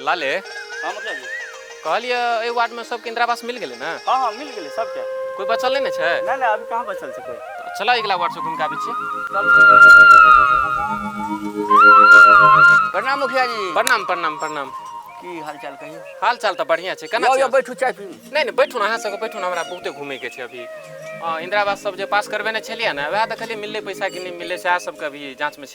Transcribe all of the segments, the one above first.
लाले हाँ मुखिया जी कहलिए एहि वार्डमे सबके इन्दिरा आवास मिल गेलै ने हाँ हाँ मिल गेलै सबके कोइ बचल नहि ने छै नहि नहि अभी कहाँ बचल छै कोई तऽ चलऽ अगिला वार्डसँ घूमि कऽ आबै छियै प्रणाम मुखिया जी प्रणाम प्रणाम प्रणाम की हाल चाल कहियो हाल चाल तऽ बढ़िआँ छै केना यौ छै यौ बैठू चाय पी नहि नहि बैठू ने अहाँ सबके बैठू ने हमरा बहुते घूमैके छै अभी हँ इन्दिरा आवास सब जे पास करबेने छलियै ने वएह देखलियै मिललै पैसा कि नहि मिललै सएह सबके अभी जाँचमे छै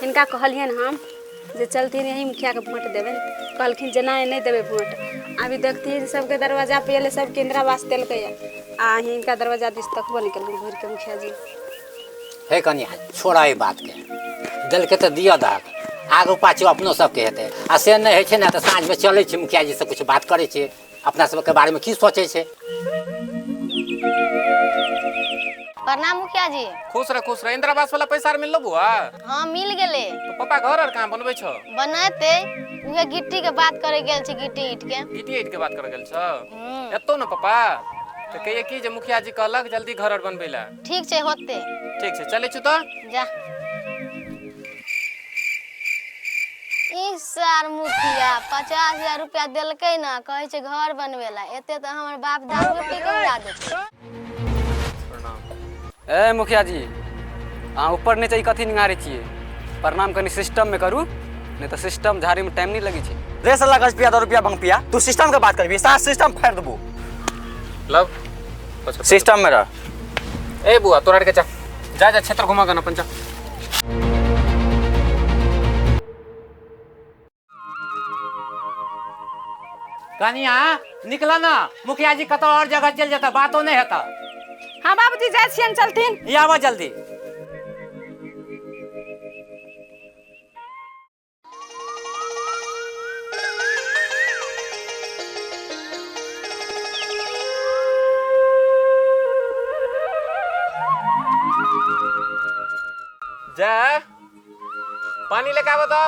हिनका कहलियनि हम जे चलथिन यही मुखियाके वोट देबै कहलखिन जे नहि नहि देबै वोट अभी देखथिन सबके दरवाजा पे एलै सबके इन्दिरावास देलकै आ हिनका दरवाजा दिस तकबो नहि केलखिन घुरिके मुखिया जी हे कनिया छोड़ा एहि बातके देलकै तऽ दिअ दहक आगू पाछू अपनो सबके हेतै आ से नहि होइ छै ने तऽ साँझमे चलै छी मुखिया जीसँ किछु बात करै छी अपना सबके बारे में की सोचे छे प्रणाम मुखिया जी खुश रह खुश रह इंदिरा आवास वाला पैसा आर मिललो बुआ हाँ मिल गेले तो पापा घर आर कहाँ बनबे छो बनते उहे गिट्टी के बात करे गेल छी गिट्टी ईट के ईटी ईट के बात कर गेल छो हम्म, एतो न पापा तो कहिए की जे मुखिया जी कहलक जल्दी घर आर बनबे ला ठीक छै होतै ठीक छै चलै छौ तऽ जा ई सार मुखिया पचास हजार रुपया देलकै ने कहै छै घर बनबै ला एते तऽ हमर बाप दारू पी के उड़ा देतै ए मुखिया जी अहाँ ऊपर नीचे ई कथी निहारै छियै प्रणाम कनि सिस्टममे करू नहि तऽ सिस्टम झाड़ैमे टाइम नहि लगै छै रे साला गज पिया दो रुपया भंग पिया तू सिस्टम के बात करबी सारा सिस्टम फाड़ देबो लब सिस्टम में रह ए बुआ तोरा के जा जा जा क्षेत्र घुमा गन अपन जा कनिया निकला ना मुखिया जी कतौ और जगह चल जाता बातो नहीं होता हाँ बाबूजी जाइ छियनि चलथिन ये आवा जल्दी जा पानी लेके आबो तो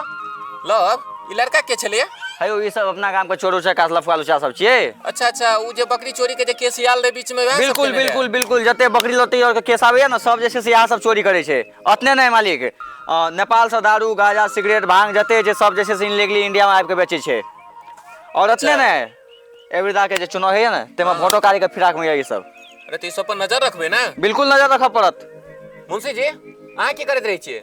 लो अब ई लड़का के छलिए है ई सब अपना काम के चोर उचा कासला फुआल उचा सब छिए अच्छा अच्छा उ जे बकरी चोरी के जे केस आयल रहे बीच में वैह सब बिल्कुल केने रहे? बिल्कुल बिल्कुल जते बकरी लते और के केस आवे ना सब जैसे से यहाँ सब चोरी करे छे ओतने नहि मालिक नेपाल से दारू गाजा सिगरेट भांग जते छै सब जे छै से इनलीगली इंडिया मे आबि कऽ बेचै छै आओर अच्छा ओतने ने एहिबेरदा के जे चुनाव होइया ने ताहिमे हँ वोटो काली के फिराक मे य ई सब अरे तऽ ई सब पर नजर रखबै ने बिल्कुल नजर रखऽ पड़त मुंशी जी अहाँ की करैत रहै छियै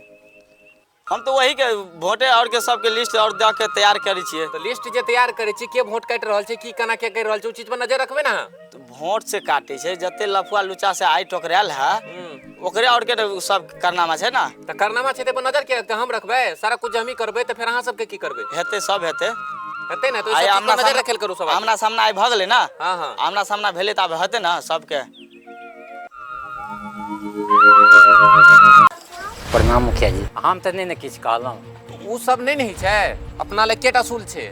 हम तऽ वही के वोटे और के सबके लिस्ट और दऽ के तैयार करै छियै तऽ लिस्ट जे तैयार करै छियै के वोट काटि रहल छै की केना के करि रहल छै ओ चीज पर नजर रखबै ने अहाँ होंठ से काटे छै जते लफुआ लुचा से आइ टोकरायल है ओकरे और के तो सब करनामा छै ना तऽ करनामा छै तऽ पर नजर के हम रखबै सारा कुछ हम ही करबै तऽ फेर अहाँ सबके की करबै हेते सब हेते हेतै ने तऽ आइ ओहि आमना नजर सामना- रखल करू सब आदमी। आमना सामना आइ भऽ गेलै ना हाँ हाँ आमना सामना भेलै तऽ आब हेतै ना सबके प्रणाम मुखिया जी हम तऽ नहि ने किछु कहलहुँ उ सब नहि ने होइ छै अपना लए केटा सूल छै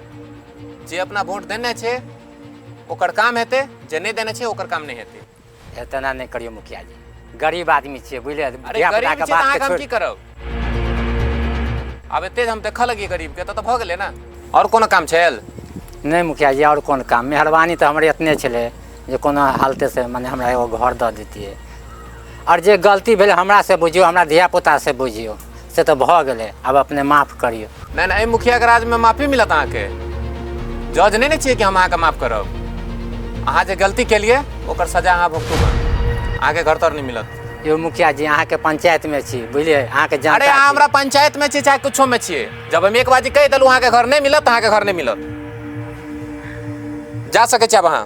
जे अपना वोट देने छै ओकर काम हेतै जे नहि देने छै ओकर काम नहि हेतै हे तेना नहि करियौ मुखिया जी गरीब आदमी छियै बुझलियै अरे धिया गरीब पुताके छै तऽ बात अहाँके हम छोड़ि की करब आब एते जे हम देखऽ लगियै गरीबके तऽ तऽ भऽ गेलै ने आओर कोनो काम छल नहि मुखिया जी आओर कोन काम मेहरबानी तऽ हमरे एतने छलै जे कोनो हालते से मने हमरा एगो घर दऽ देतियै आओर जे गलती भेलै हमरा से बुझियौ हमरा धिया पुता से बुझियौ से तऽ भऽ गेलै आब अपने माफ करियौ नहि नहि एहि मुखियाके राजमे माफी मिलत अहाँके जज नहि ने छियै कि हम अहाँके माफ करब अहाँ जे गलती केलिए ओकर सजा अहाँ भुगतू अहाँके घर तर नहि मिलत यौ मुखिया जी अहाँके पंचायतमे छी बुझलियै अहाँके जान अरे अहाँ हमरा पंचायतमे छी चाहे किछोमे छियै जब हम एक बाजी कहि देलहुँ अहाँके घर नहि मिलत अहाँके घर नहि मिलत जा सकै छी आब अहाँ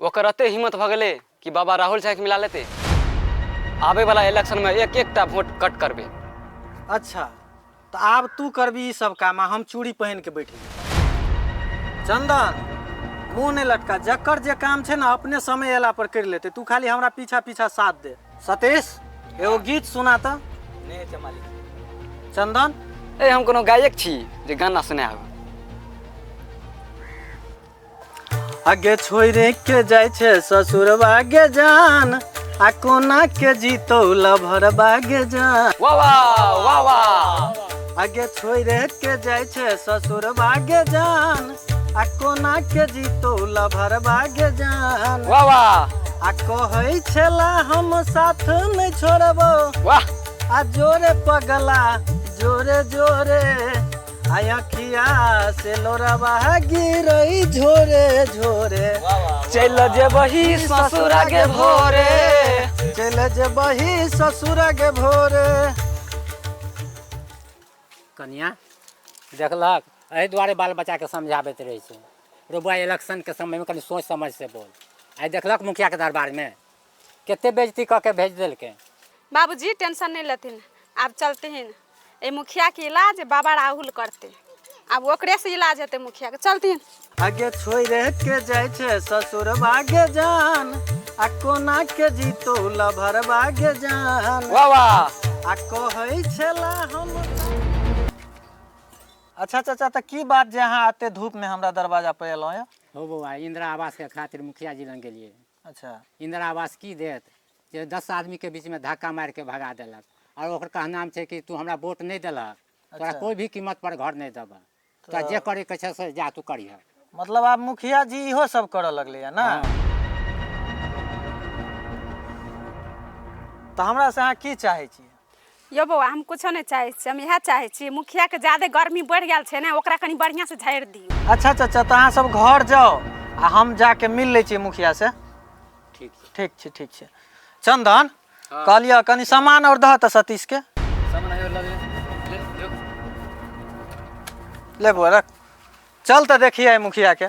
ओकर एते हिम्मत भऽ गेलै कि बाबा राहुल झाके मिला लेतै आबे वाला इलेक्शन में एक एकटा वोट कट करबे अच्छा तो आब तू करबी ई सब काम आ हम चूड़ी पहन के बैठी चंदन मुंह नहीं लटका जकर जे काम छे ना अपने समय एला पर कर लेते तू खाली हमरा पीछा पीछा साथ दे सतीश एगो गीत सुना तो नहीं अच्छा मालिक चंदन ए हम कोनो गायक छी जे गाना सुनाएब आगे छोड़े के जाय छे ससुर बागे जान आ कोना के जीतो लभर बागे जान वाह वाह वाह वाह आगे छोड़े के जाय छे ससुर बागे जान आ कोना के जीतो लभर बागे जान वाह वाह आ कहै छेला हम साथ नै छोड़बो वाह आ जोरे पगला जोरे जोरे आई अखिया से लोरवा गिरई झोरे झोरे चल जेबही ससुर के भोरे चल जेबही ससुर के भोरे कनिया देखलक एहि दुआरे बाल बच्चाके समझाबैत रहै छै रौबा इलेक्शनके समयमे कनि सोच समझसँ बोल आइ देखलक मुखियाके दरबारमे कते बेजती कऽ के भेज देलकै बाबूजी टेंशन नहीं लेथिन आब चलतिन ए मुखिया के इलाज बाबा राहुल करते आब ओकरे से इलाज हेतै मुखिया के चलतिन आगे छोड़े के जाय छे ससुर भागे जान आ कोना के जीतो लभर भागे जान वाह वाह आ कहै छेला हम अच्छा चाचा तऽ की बात जे अहाँ एते धूप में हमरा दरवाजा पर एलहुँ यऽ हो बौआ इंदिरा आवास के खातिर मुखिया जी लग गेलिए अच्छा इंदिरा आवास की देत जे दस आदमीके बीचमे धक्का मारिके भगा देलक आओर ओकर कहनाम छै कि तू हमरा वोट नहि देलक तोरा अच्छा। कोइ भी कीमत पर घर नहि देबह तोरा जे करैके छै से जा तू करिह मतलब आब मुखिया जी इहो सब करऽ लगलै है ना हँ। तऽ हमरा से अहाँ की चाहै छियै यौ बौआ हम कुछो नहि चाहै छी हम इएह चाहै छी मुखियाके ज्यादे गर्मी बढ़ि गेल छै ने ओकरा कनि बढ़िआँसँ झाड़ि दियौ अच्छा चाचा तऽ अहाँ सब घर जाओ आ हम जाके मिल लै छी मुखिया से ठीक छै ठीक छै ठीक छै चंदन हाँ। कहलिए कनि सामान और दह तऽ सतीश के सामान आयो लग ले ले ले बौआ रख चल तऽ देखिए मुखिया के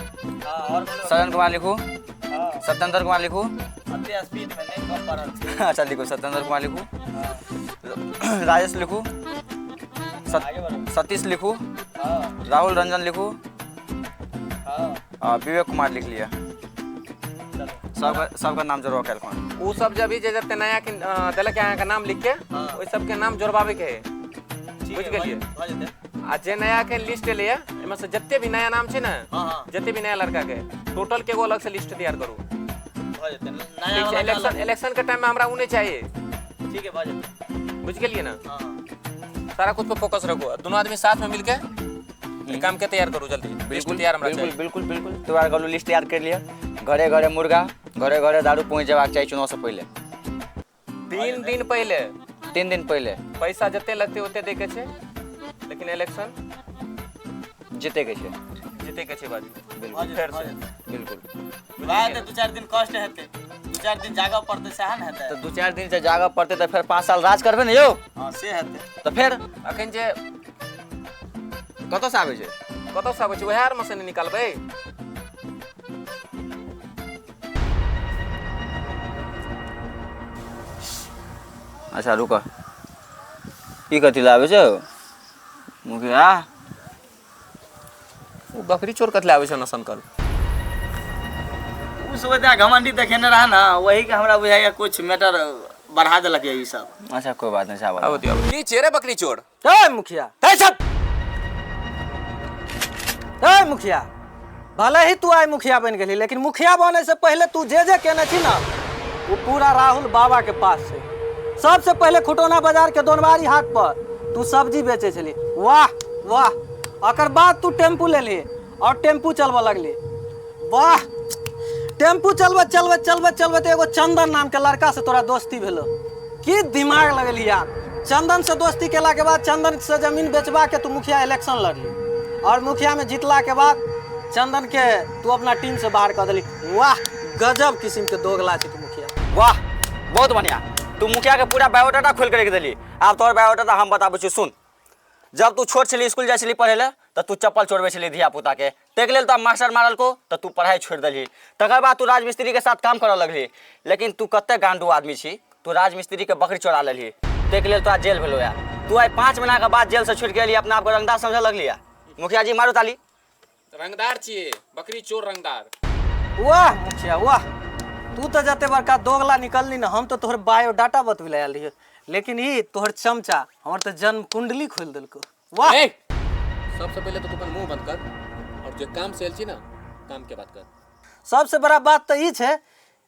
सदन कुमार लिखू सत्येंद्र कुमार लिखू अच्छा लिखू सत्येंद्र कुमार लिखू राजेश लिखू सत- सतीश लिखू राहुल रंजन लिखू आ विवेक कुमार लिख लिया सबका सबका नाम जोड़वा कैल कौन उ सब जब भी जे जते नया के अ, देलक है अहाँ के नाम लिख के हाँ। ओइ सब के नाम जोड़बाबे के है बुझ गेलिए आ जे नया के लिस्ट एलै है एमे से जते भी नया नाम छै ने हाँ हाँ जते भी नया लड़का के टोटल के एगो अलग से लिस्ट तैयार करू भऽ जेतै नया ठीक छै वाला इलेक्शन अलग। इलेक्शन के टाइम में हमरा उ नहीं चाहिए ठीक है भऽ जेतै बुझ गेलिए ना हाँ हाँ सारा कुछ पे फोकस रखो और दोनों आदमी साथ में मिलके ये काम के तैयार करो जल्दी लिस्ट बिल्कुल तैयार हमरा बिल्कुल चाहिए बिल्कुल बिल्कुल तैयार कर लो लिस्ट तैयार कर लिया घरे घरे मुर्गा घरे घरे दारू पहुँच जयबाक चाही चुनाव से पहले तीन दिन पहिले तीन दिन पहिले पैसा जते लगते ओते दे के छै लेकिन इलेक्शन जीते के छै जीते के छै बाजू बिल्कुल फेर से बिल्कुल भाय तऽ दू चारि दिन कष्ट हेतै दू चारि दिन जागऽ पड़तै सएह ने हेतै तऽ दू चारि दिन से जागऽ पड़तै तऽ फेर पाँच साल राज करबै ने यौ हँ से हेतै तऽ फेर अखन जे कतऽसँ आबै छै कतऽसँ आबै छै उएह आरमे से ने निकालबै अच्छा रुकऽ ई कथी लए आबै छौ मुखिया ओ बकरी चोर कथी लए आबै छौ नसन कर उ सोचा घमंडी देखेने रहा ना वही के हमरा बुझाइए कुछ मैटर बढ़ा देलक ये ई सब अच्छा कोई बात नहीं चावल आबो दियो आबो। नीचे रे बकरी चोर ए मुखिया ए सब ए मुखिया भले ही तू आइ मुखिया बनि गेली लेकिन मुखिया बने से पहले तू जे जे केने छी ना वो पूरा राहुल बाबा के पास से सबसे पहले खुटौना बाजार के दोनवारी हाट पर तू सब्जी बेचे छली वाह वाह अकर बाद तू टेम्पू लेली और टेम्पू चलबऽ लगली वाह टेम्पू चलबत चलबत चलबत चलबत एगो चंदन नाम के लड़का से तोरा दोस्ती भेलो की दिमाग लगली यार चंदन से दोस्ती केला के बाद चंदन से जमीन बेचबा के तू मुखिया इलेक्शन लड़ली और मुखिया में जीतला के बाद चंदन के तू अपना टीम से बाहर कर देली वाह गजब किस्म के दोगला छी तू मुखिया वाह बहुत बढ़िया तू मुखिया के पूरा बायोडाटा खोल के रख देली आब तोहर बायोडाटा हम बताबै छी सुन जब तू छोट छली स्कूल जाइ छली पढ़ै लए तऽ तू चप्पल चोरबै छली धियापुताके ताहिके लेल तोरा मास्टर मारलको तऽ तू पढ़ाइ छोड़ि देलही तकर बाद तू राजमिस्त्रीके साथ काम करऽ लगली लेकिन तू कतेक गांडू आदमी छी तू राजमिस्त्रीके बकरी चोरा लेलही ताहिके लेल तोरा जेल भेलौ यऽ तू आइ पाँच महीनाके बाद जेलसँ छुटि गेली अपना आपके रंगदार समझऽ लगली यऽ मुखिया जी मारू ताली रंगदार छिए बकरी चोर रंगदार वाह मुखिया वाह तू तो जते बड़का दोगला निकलनी ना हम तो तोहर बायोडाटा बतबे आयल रहिए लेकिन ई तोहर चमचा हमर तो जन्म कुंडली खोल देलको वाह ए! सबसे पहले तो तू अपन मुंह बंद कर और जो काम से एल छी ना काम के बात कर सबसे बड़ा बात तो ई छै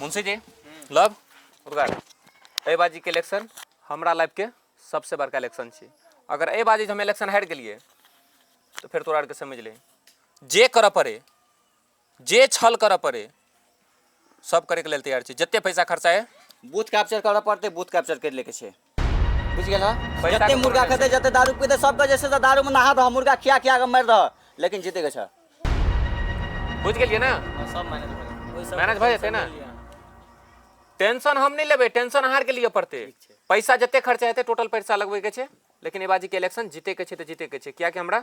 मुंशी जी लब उद्गार एहि बाजीके इलेक्शन हमरा लाइफके सबसँ बड़का इलेक्शन छी अगर एहि बाजी जे हम इलेक्शन हारि गेलियै तऽ फेर तोरा आरके समझ ले जे करऽ पड़े जे छल करऽ पड़े सब करैके लेल तैयार छी जते पैसा खर्चा है बूथ कैप्चर करऽ पड़तै बूथ कैप्चर करि लैके छै बुझ गेल हँ पैसा जते के मुर्गा कोनो खेतै जते दारू पीतै सबके जे छै से दारू मे नहा दह मुर्गा खिया खिया कऽ मारि दह लेकिन जीते के छ बुझ गेलियै ने सब मैनेज भऽ जाएत। ओहि सब मैनेज भऽ जेतै ने? लिअ। टेंशन हम नहीं लेबे टेंशन अहार के लिए पड़ते पैसा जते खर्चा हेतै टोटल पैसा लगबे के छै लेकिन एबाजी के इलेक्शन जीते के छै तऽ जीते के छै कियाकि हमरा